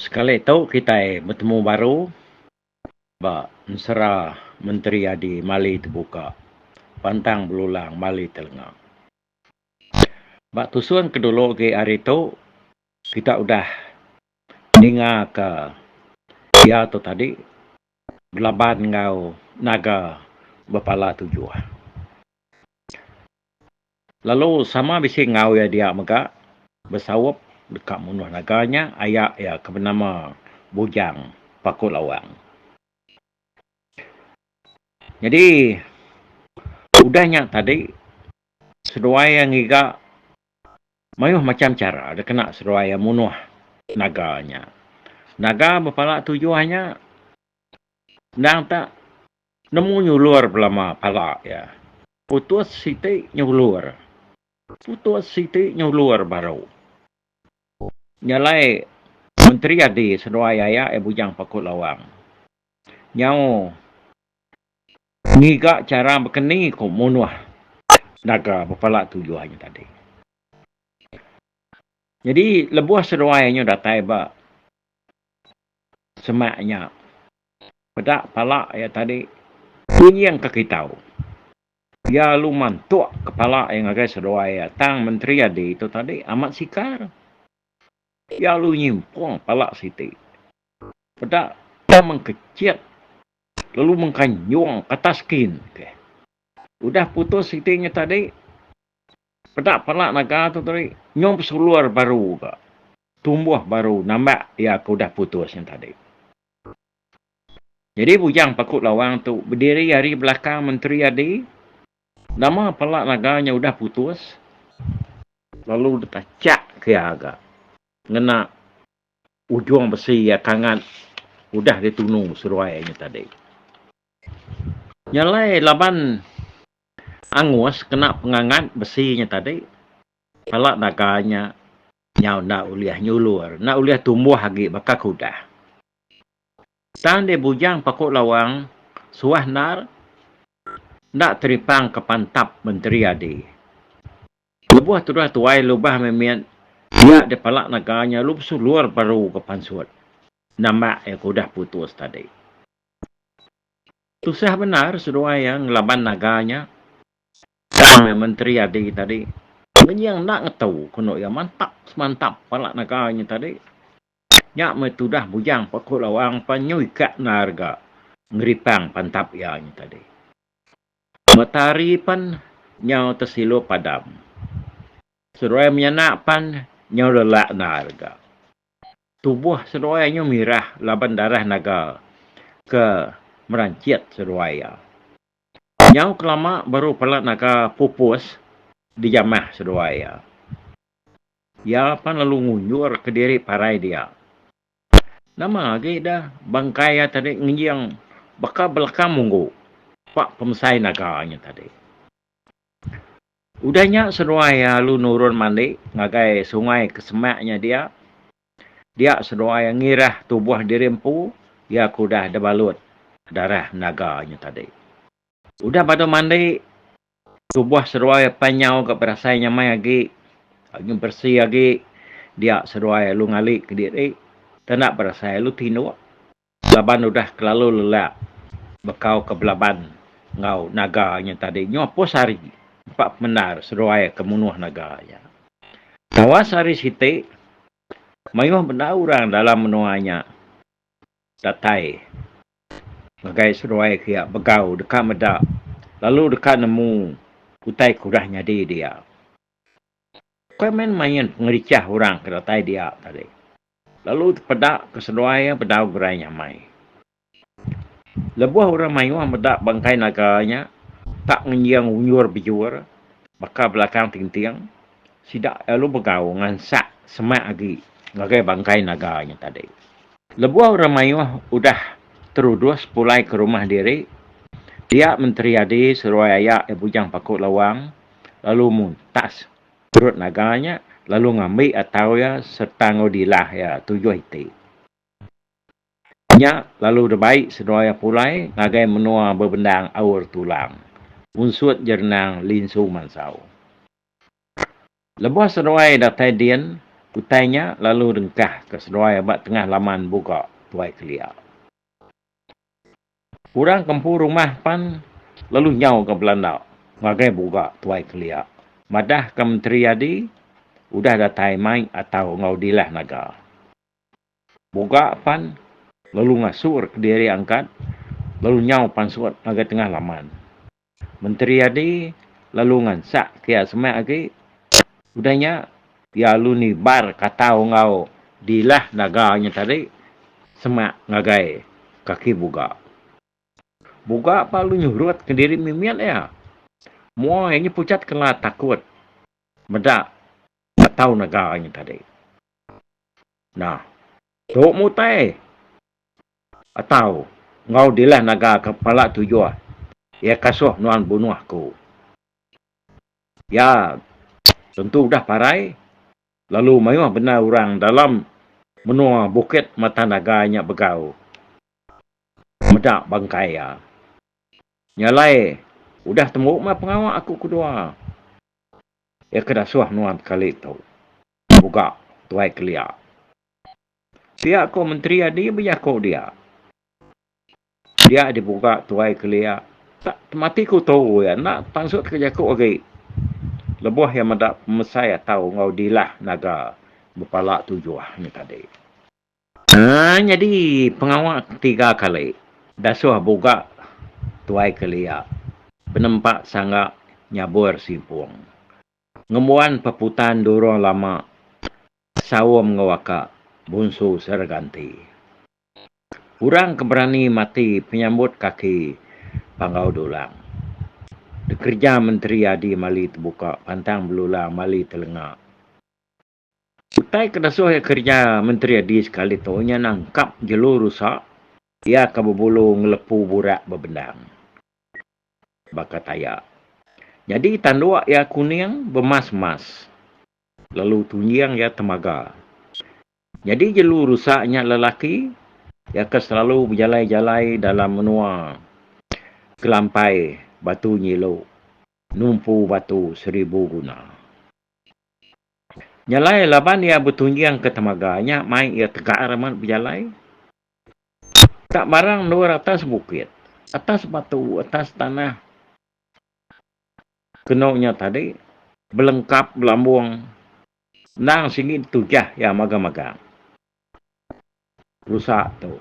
Sekali tu kitai betemu baru ba ensera Menteri Adi Mali Tebuka Pantang Belulang Mali Telenga. Ba tusung ke dulu agi hari tu kita udah ninga ka iya tu tadi belaban enggau naga bepala tujuh. Lalu sama bisi enggau iya dia mega besaup deka munuh naga nya aya iya ke benama Bujang Paku Lawang. Nyadi udah nya tadi seduai iya ngiga mayuh macham chara dikena seduai iya munuh naga nya. Naga bepala tujuh nya endang tu Nemu nyulur belama pala iya. Putus siti nyulur. Putus siti nyulur baru. Nya alai Menteri Adi seduai aya iya Bujang Paku Lawang nyau ngiga chara bekeni ku munuh naga bepala tujuh nya tadi. Nyadi lebuh seduai anyu datai ba semak nya peda pala iya tadi kunying ka kitou. Iya alu mantuk kepala iya ngagai seduai iya tang Menteri Adi tu tadi amat sikar. Iya alu nyimpung pala siti peda tang mengkechit lalu mengkanjung ke atas skin ke. Udah putus siti nya tadi peda pala naga tu tadi nyau besulur baru ka. Tumbuh baru nambah iya ke udah putus nya tadi. Nyadi bujang Paku Lawang tu bediri ari belakang Menteri Adi, nama pala naga nya udah putus lalu ditachak ke iya ga ngena ujung besi iya kangat udah ditunu seruai nya tadi. Nya alai laban angus kena pengangat besi nya tadi, pala naga nya Nyau enda ulih nyulur, enda ulih tumbuh agi baka ke udah. Tang deh bujang paku lawang suah endar enda teripang ke pantap menteri adi. Lebuh tudah tuai lubah mimit iya deh pala naga nya lalu besulur baru ke pansut nambak iya ke udah putus tadi. Tusah bendar seduai iya ngelaban naga nya. Tang iya menteri adi tadi ngenying enda ngetu ku endo iya mantap semantap pala nega inya tadi. Nya meh tudah bujang pa ku lawang pan nyui ka enda rega ngeripang pantap iya inya tadi. Matahari pan nyau tesilup padam. Seduai menyanak pan nyau lelak enda rega. Tubuh seduai nyau mirah laban darah naga ke merancit seduai iya. Nyau kelama baru pala naga pupus dijamah seduai iya. Iya pan lalu ngunjur kediri parai dia. Nama agi da bangkai iya tadi ngejing baka belakang munggu ba pemesai naga nya tadi. Udah nya seduai iya lalu nurun mandi ngagai sungai ke semak nya dia Dia seduai ngirah tubuh diri empu iya ke udah dibalut darah naga nya tadi. Udah badu mandi, tubuh seduai pan nyau ga berasai nyamai agi, agi beresi agi. Dia seduai alu ngali kediri, enda berasai alu tinduk. Laban udah kelalu lelak bekau ke belaban enggau naga nya tadi nyu apus hari empa pemendar seduai ke munuh naga nya. Tawas hari siti mayuh bendar orang dalam menua nya datai ngagai seduai ke iya begau deka meda lalu deka nemu utai ke udah nyadi dia. Ukai main-main pengerichah orang ke datai dia tadi. Lalu peda ke seduai iya bedau gerai nyamai. Lebuh orang mayuh meda bangkai naga nya tak ngenjing unjur-bejur baka belakang tinting, sida lalu begau ngansak semak agi ngagai bangkai naga nya tadi. Lebuh orang mayuh udah terudus pulai ke rumah diri, dia Menteri Adi seduai aya iya Bujang Paku Lawang lalu muntas. Perut naga nya lalu ngambi atau iya sereta enggau dilah iya tujuh iti. Nya lalu debai seduai iya pulai ngagai menua bebendang Aur Tulang, unsut Jerenang Linsu Mansau. Lebuh seduai datai din, utai nya lalu dengkahka seduai ba tengah laman Buga, Tuai Kelia. Orang ke empu rumah pan lalu nyau ke belanda ngagai buga tuai kelia madah ke Menteri Adi udah datai mai atau enggau dilah naga. Buga pan lalu ngasur kediri angkat lalu nyau pansut ngagai tengah laman. Menteri Adi lalu ngansak kiya semak agi udah nya iya lalu nibar katau enggau dilah naga nya tadi semak ngagai kaki buga. Buga ba lalu nyurut kediri mimit iya. Mua iya nya pucat kela takut meda katau naga nya tadi. Nah tu mutai. Atau, enggau dilah naga ke pala tujuh, iya kasuh nuan bunuh aku. Iya tentu udah parai, lalu mayuh bendar orang dalam menua bukit matan naga nya begau meda bangkai iya. Nya alai udah tembu meh pengawa aku kedua. Iya ke dasuh nuan kali tu, mugak Tuai Kelia. Pia ko menteri adi bejako dia. Dia dibuka Tuai Kelia tak temati ku tu iya enda pansut ke jako agi leboh iya meda pemesai atau enggau dilah naga bepala tujuh nya tadi. Haa nyadi pengawa ketiga kali dasuh buka Tuai Kelia penempa sangga nyabur simpung. Ngembuan peputan durung lama saum enggau aka Bunsu Seraganti. Orang ke berani mati penyambut kaki Panggau Dulang. Dikereja Menteri Adi Mali Tebuka pantang belulang mali telenga. Utai ke dasuh iya kerja Menteri Adi sekali tu nya nangkap jelu rusa iya ke bebulu ngelepu burak bebendang baka taya. Nyadi tanduk iya kuning bemas-mas lalu tunjing iya temaga. Nyadi jelu rusa nya lelaki iya ke selalu bejalai-jalai dalam menua Kelampai Batu Nyilu numpu batu seribu guna. Nya alai laban iya betunjingka temaga nya mai iya tegar amat bejalai. Ka barang endur atas bukit, atas batu, atas tanah kenu nya tadi belengkap belambung endang sigi ditujah iya magang-magang rusa tu.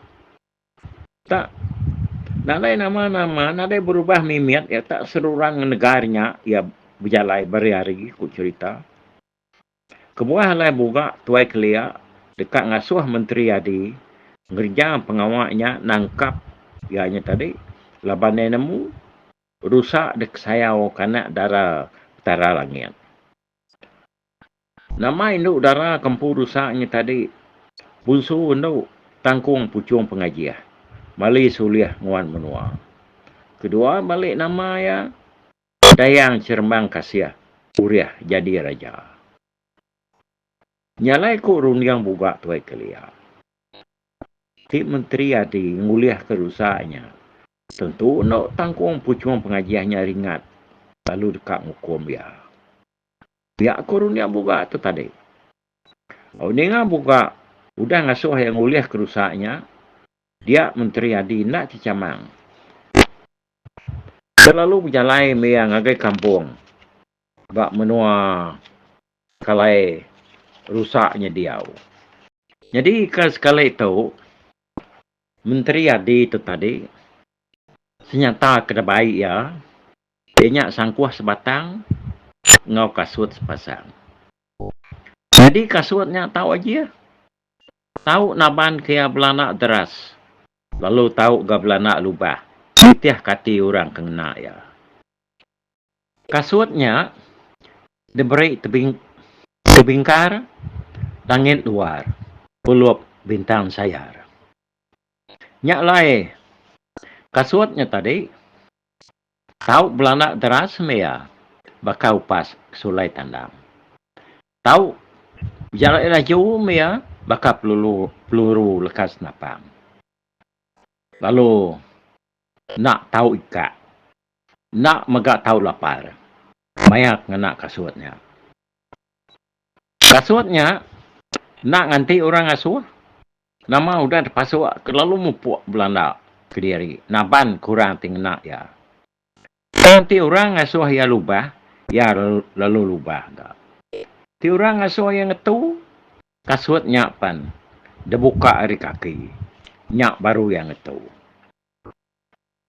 Tak nadai nama-nama, nadai berubah mimit iya tak seruran ngan negara nya iya bejalai beriari ku cherita. Kebuah alai buga Tuai Kelia deka ngasuh Menteri Adi ngereja pengawa nya nangkap iya nya tadi laban iya nemu rusa dikesayau ke anak dara Petara Langit. Nama indu dara ke empu dusa ngi tadi bunsu endu tangkung puchung pengajih mali sulih nguan menua. Kedua balik nama iya Dayang Cherembang Kasih urih jadi raja. Nyalai ku runding buga Tuai Kelia. Ti menteri adi ngulih ke dusa nya tentu endu tangkung puchung pengajih nya ringat lalu deka ngukum iya. Pia ku Runia Buga tu tadi. Au ninga Buga udah ngasuh iya ngulih kerusa nya, dia Menteri Adi enda chichamang. Iya lalu bejalai meh iya ngagai kampung ba menua Kalai Rusa nya diau. Nyadi ka sekali tu Menteri Adi tu tadi senyata ke dabai iya Iya nya sangkuh sebatang enggau kasut sepasang. Nyadi kasut nya tau ajih. Tau naban ke iya belana deras lalu tau ga belana lubah nitih ke ati orang ke ngena iya. Kasut nya diberi tebing tebingkar langit luar pulup bintang sayar. Nya alai kasut nya tadi Tau belanak deras mea baka upas sulai tandang. Tau bejalai laju mea baka pelulu peluru leka senapang. Lalu enda tau ikak, enda mega tau lapar maya ngena kasut nya. Kasut nya enda nganti orang ngasuh Nama udah dipasuk ke lalu mupuk belanda kediri naban ke orang ti ngena iya. Tang ti orang ngasuh iya lubah, iya lalu lubah ga. Ti orang ngasuh iya ngetu kasut nya pan dibuka ari kaki, nya baru iya ngetu.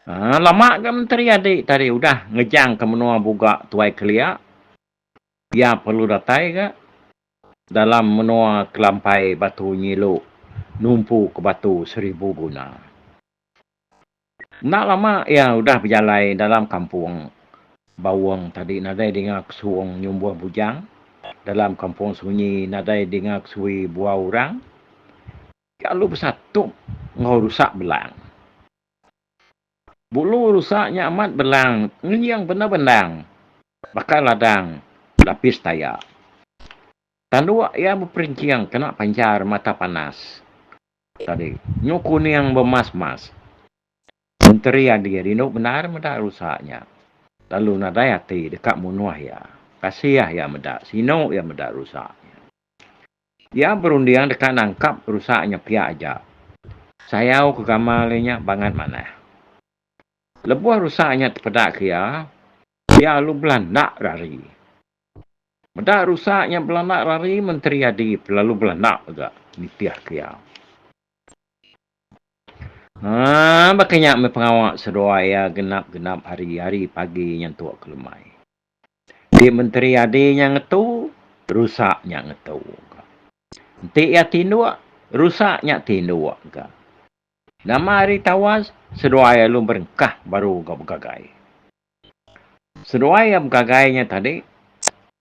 Haa, lama ga Menteri Adi tadi udah ngejangka menua Buga Tuai Kelia. Iya perlu datai ga. Dalam menoa kelampai batu nyilu numpu ke batu seribu guna. Enda lama iya udah bejalai dalam kampung Baung tadi nadai dinga kesung nyumbuh bujang, dalam kampung sunyi nadai dinga kesui buau orang. Iya lalu besatup enggau rusak belang. Bulu rusa nya amat belang ngenying bendar bendang baka ladang lapis taya. Tanduk iya beperinching kena panchar mata panas tadi nyu kuning bemas mas. Menteri Adi rindu bendar meda rusa nya lalu nadai ati deka munuh iya. Kasih iya meda sinu iya meda rusa nya. Iya berunding deka nangkap rusa nya pia aja. Sayau ke gamal iya nya bangat manah. Lebuh rusa nya tepeda ke iya, iya alu belanda rari. Meda rusa nya belanda rari Menteri Adi pun lalu belanda mega nitih ke iya. Haa baka nya meh pengawa seduai iya genap-genap hari, hari pagi nyentuk kelemai. Di menteri adi nya ngetu, rusa nya ngetu ka. Enti iya tinduk, rusa nya tinduk ka. Nama ari tawas, seduai iya lalu berengkah baru ga begagai. Seduai iya begagai nya tadi,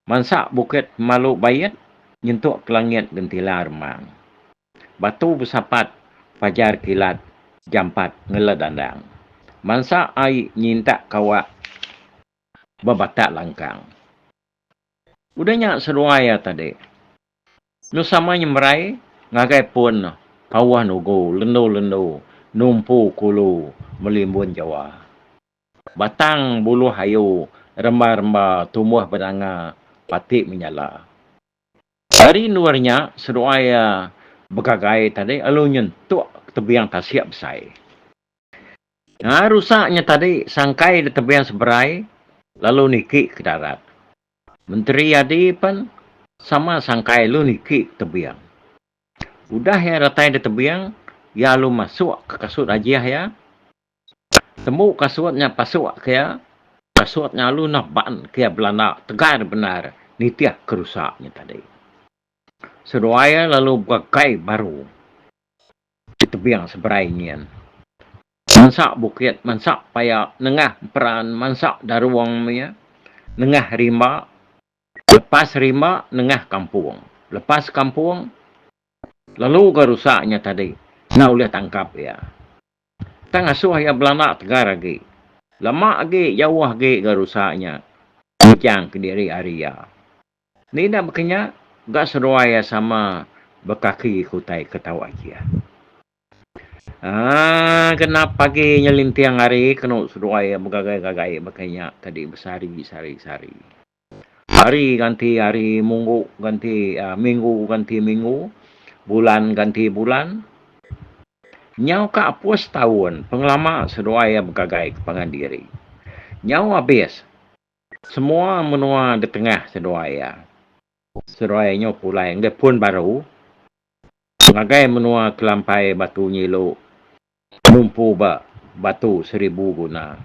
mansa bukit pemalu bait, nyentuk ke langit gentila remang. Batu besapat, fajar kilat, jampat ngeledandang. Mansa ai nyintak ka awak ba batak langkang. Udah nya seduai iya tadi enu sama nyemerai ngagai pun Pauh Nugu lendu-lendu numpu kulu melimbun jawa. Batang buluh ayu remba-remba tumbuh benanga pati menyala. Ari endur nya seduai iya begagai tadi lalu nyentuk tebing tasik besai. Nya rusak nya tadi sangkai ditebing seberai lalu niki ke darat. Menteri Adi pen sama sangkai lu niki tebing. Udah iya datai ditebing, iya alu masuk ke kasut ajih iya. Tembu kasut nya pasuk ke iya, kasut nya alu nah ban ke iya belanda tegar bendar nitih ke rusak nya tadi. Seduai iya lalu begagai baru. ti tebing seberai nyin. Mansa bukit, mansa paya nengah emperan, mansa darung mia nengah rimba, lepas rimba nengah kampung, lepas kampung lalu ga rusa nya tadi enda ulih tangkap iya. Tang asoh iya belanda tegar agi, lama agi jauh agi ga rusa nya ngejang kediri ari iya. Ni enda baka nya, ga seruai iya sama bekaki ke utai ke tau aji iya. Aaa genap pagi nyelinting hari kenu seduai iya begagai-gagai baka nya tadi besari sari sari. Hari ganti hari, munggu ganti aaa minggu ganti minggu, bulan ganti bulan. Nyau ka apoh setaun pengelama seduai iya begagai ke pangan diri. Nyau abis. Semua menua ditengah seduai iya. Seduai nyu pulai enggau pun baru ngagai menua kelampai Batu Nyilu numpu ba Batu Seribu Guna.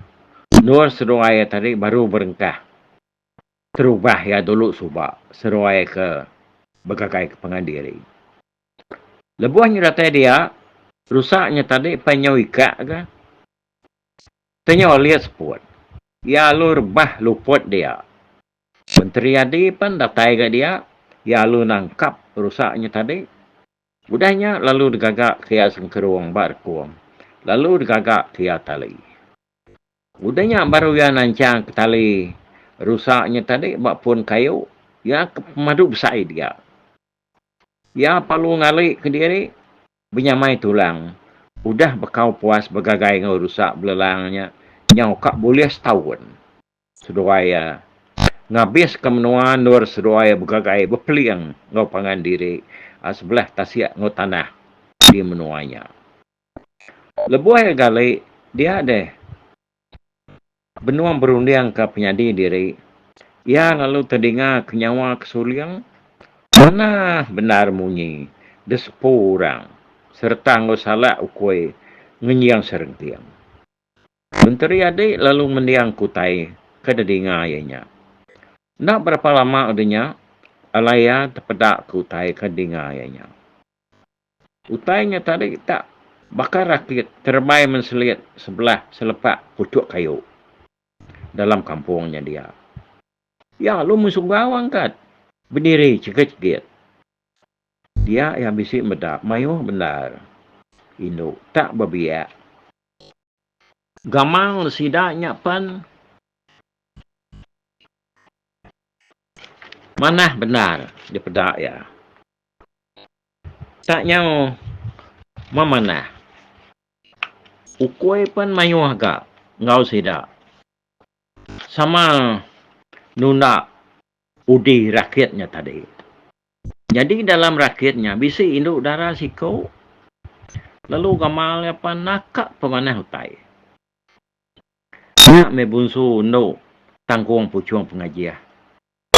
Endur seduai iya tadi baru berengkah terubah iya dulu suba seduai ke begagai ke pangan diri. Lebuh nyu datai dia, rusak nyu tadi pai nyau ikak ga. Tanya Olia Seput. Iya alu rebah luput dia. Menteri Adi pen datai ga dia. Iya alu nangkap rusa nya tadi. Udah nya lalu degaga ke iya sengkerong ba rekong lalu degaga ke iya tali. Udah nya baru iya nanchang ke tali rusa nya tadi ba pun kayu iya ke pemadu besai dia. Iya pa lu ngali ke diri. Benyamai tulang, udah bekau puas begagai enggau rusa belelang nya nyau ka bulih setaun. Seduai iya ngabiska menua endur seduai iya begagai bepeling enggau pangan diri sebelah tasik enggau tanah di menua nya. Lebuh iya gali, dia deh Benung berundingka penyadi diri, iya lalu tedingaka nyawa ke suling manah bendar munyi desepu orang sereta enggau salak ukui ngenjing serenting. Menteri Adi lalu ngendingka utai ke didinga iya nya. Enda berapa lama udah nya, alai iya tepedaka utai ke didinga iya nya. Utai nya tadi tak baka rakit terembai menselit sebelah selepak puchuk kayu dalam kampung nya dia. Iya alu mensuggau angkat bediri chegit-chegit. Dia iya bisi meda mayuh bendar indu tak bebiak. Gamal sida nya pen manah bendar dipeda iya. Tak nyau memanah. Ukui pen mayuh ga enggau sida. Sama nunda udi rakit nya tadi. Nyadi dalam rakit nya bisi indu dara siku lalu gamal iya pan naka pemanah utai. Nya meh bunsu endu tangkung puchung pengajih.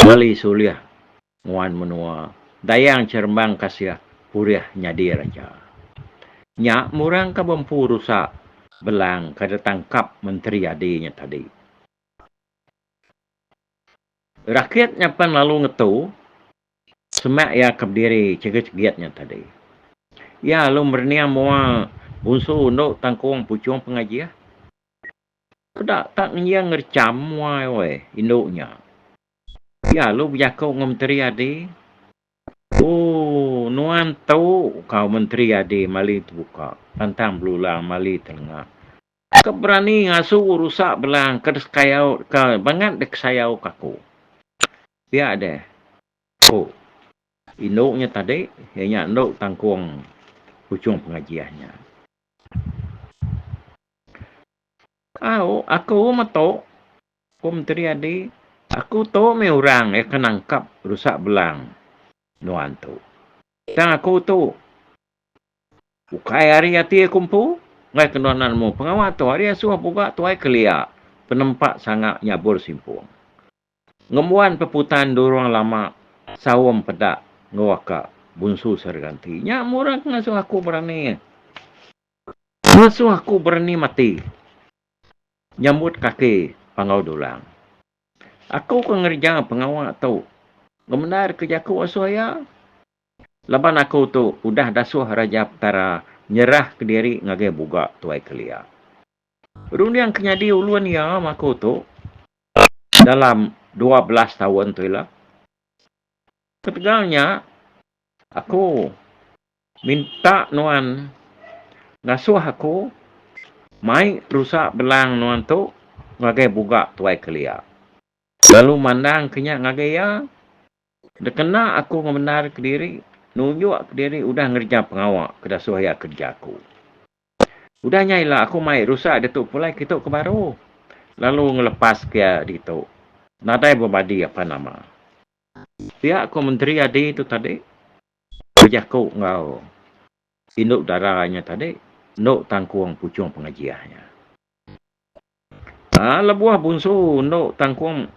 Meli sulih nguan menua Dayang Cherembang Kasih Purih nyadir aja. Nya murang ka bempu rusa belang kada tangkap menteri adi nya tadi. Rakit nya pen lalu ngetu semak iya ka bediri chegit-chegit nya tadi. Iya lalu merening mua bunsu endu tangkung puchung pengajih. Peda tak ngenjing ngerecham mua woi indu nya. Pia lu bejaku enggau menteri adi. Ooh nuan tu kau menteri adi mali tebuka pantang belulang mali telengah. Ke berani ngasu rusak belang ke deskayau ke bangat dekesayau ke aku. Pia deh ku indu nya tadi iya nya endu tangkung puchung pengajian nya. Au aku metu ku menteri adi aku tu mih orang iya ke nangkap rusa belang nuan tu. Tang aku tu ukai ari ati aku empu enggai ke nuan nemu pengawa tu ari asuh buka tuai kelia penempa sanga nyabur simpung. Ngembuan peputan durung lama saum peda enggau aka bunsu serega enti nya murang ngasuh aku berani. Ngasuh aku berani mati nyambut kaki Panggau Dulang. Aku ke ngereja pengawa tu ngemendarka jaku asuh iya laban aku tu udah dasuh Raja Petara nyerahka diri ngagai Buga Tuai Kelia. Runding ke nyadi ulun iya ma aku tu dalam dua belas taun tu ila. Ketegal nya aku Minta nuan ngasuh aku mai rusa belang nuan tu ngagai buga Tuai Kelia. Lalu mandang ke nya ngagai iya, Dikena aku ngemendar ke diri, nunjuk ke diri udah ngereja pengawa ke dasuh iya kereja aku. Udah nya ila aku mai rusa ditu pulai kitu ke baru, lalu ngelepaska iya ditu nadai bebadi apan nama. Pia ku Menteri Adi tu tadi, Bejaku enggau indu dara inya tadi enda tangkung puchung pengejih inya. Aa lebuh bunsu enda tangkung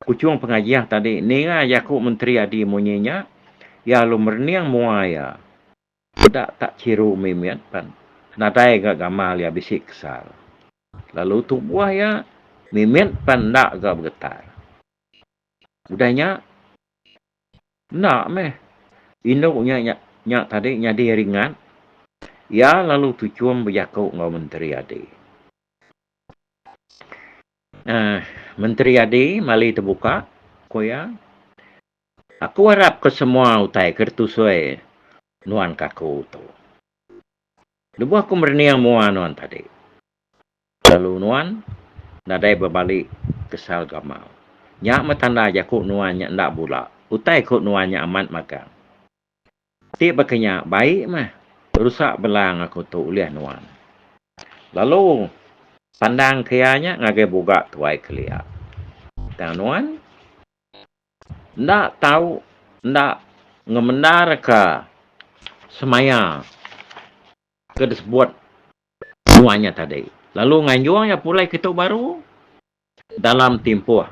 puchung pengejih tadi ninga jaku menteri adi munyi nya iya lalu merening mua iya peda tak chiru mimit pan nadai ga gamal iya bisi kesal lalu tubuh iya mimit pan enda ga begetar. Udah nya. Enda meh. Indu nya nya tadi nyadi ringat. Iya lalu tuchum bejaku enggau Menteri Adi. Aah, Menteri Adi mali tebuka, ku iya. Aku arap ke semua utai ke ditusui nuan ke aku tu. Lebuh aku merening mua nuan tadi. Lalu nuan nadai bebali kesal gamal. Nya meh tanda jaku nuan nya enda bula. Utai ku nuan nya amat magang. Ti baka nya bai meh rusak belang aku tu ulih nuan. Lalu pandang ke iya nya ngagai buga tuai kelia. Tang nuan enda tau enda ngemendarka semaya ke disebut Nuan nya tadi lalu nganjung iya pulai ke tu baru dalam timpuh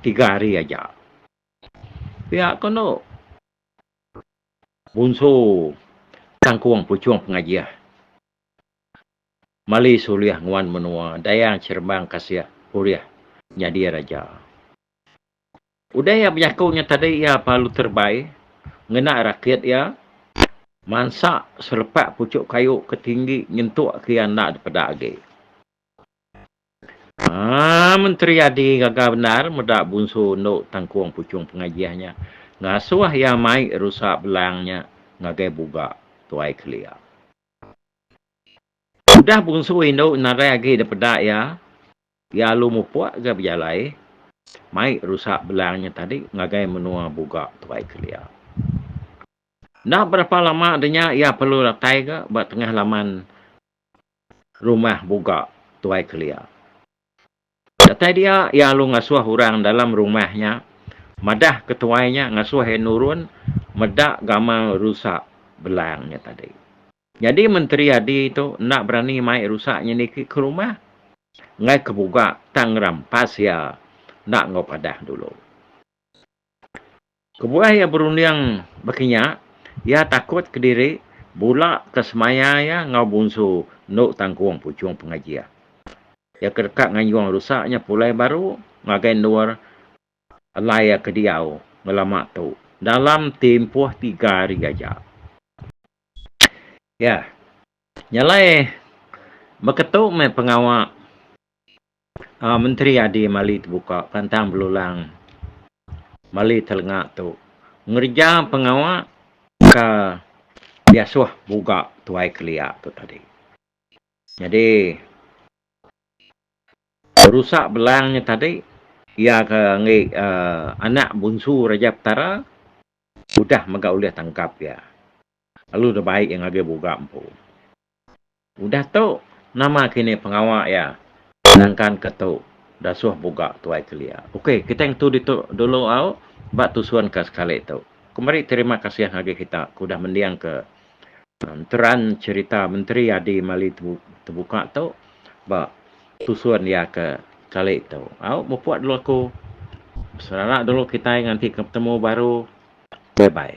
tiga hari aja. Pia ko endo Bunsu Tangkung Puchong Pengajih Malis ulih nguan menua Dayang Cherembang Kasih ulih nyadi raja. Udah iya bejaku nya tadi iya pelalu terebai ngena rakit iya mansa selepak puchuk kayu ke tinggi nyentuk ke iya enda dipeda agi. Haa Menteri Adi gaga bendar meda Bunsu endu tangkung puchung pengajih nya ngasuh iya mai rusa belang nya ngagai buga tuai kelia. Udah Bunsu indu nadai agi dipeda iya Iya alu mupuk ga bejalai mai rusak belang nya tadi ngagai menua Buga Tuai Kelia. Enda berapa lama ari nya iya perlu datai ga ba tengah laman Rumah Buga Tuai Kelia. Datai dia iya alu ngasuh orang dalam rumah nya madah ke tuai nya ngasuh iya nurun meda gamal rusak belang nya tadi. Nyadi menteri adi tu enda berani mai rusak nyeniki ke rumah enggai ke buga tang ngerampas iya enda enggau padah dulu. Kebuah iya berunding baka nya, iya takut kediri bula ke semaya iya enggau Bunsu endu tanggung puchung pengaji iya. Iya ke deka nganjung rusak nya pulai baru ngagai endur alai iya ke diau ngelama tu dalam timpuh tiga hari aja. Iya. Nyalai beketu meh pengawa a menteri adi mali tebuka pantang belulang mali telenga tu ngereja pengawa ka diasuh buga tuai kelia tu tadi. Nyadi berusa belang nya tadi iya ka enggi a anak bunsu Raja Petara Udah mega ulih tangkap iya. Lalu udah baik iya ngagai buga empu. Udah tu, nama kini pengawa iya nangkan ke tu dasuh buga Tuai Kelia. Okey, kitai ngetu ditu dulu au ba tusun ke sekali tu. Kemari terima kasih ngagai kita ke udah mendingka. Nteran cherita menteri adi mali tebuka tu ba tusun iya ke kali tu. Au mupuk dulu aku serara dulu kitai nganti ke betemu baru. Bye bye.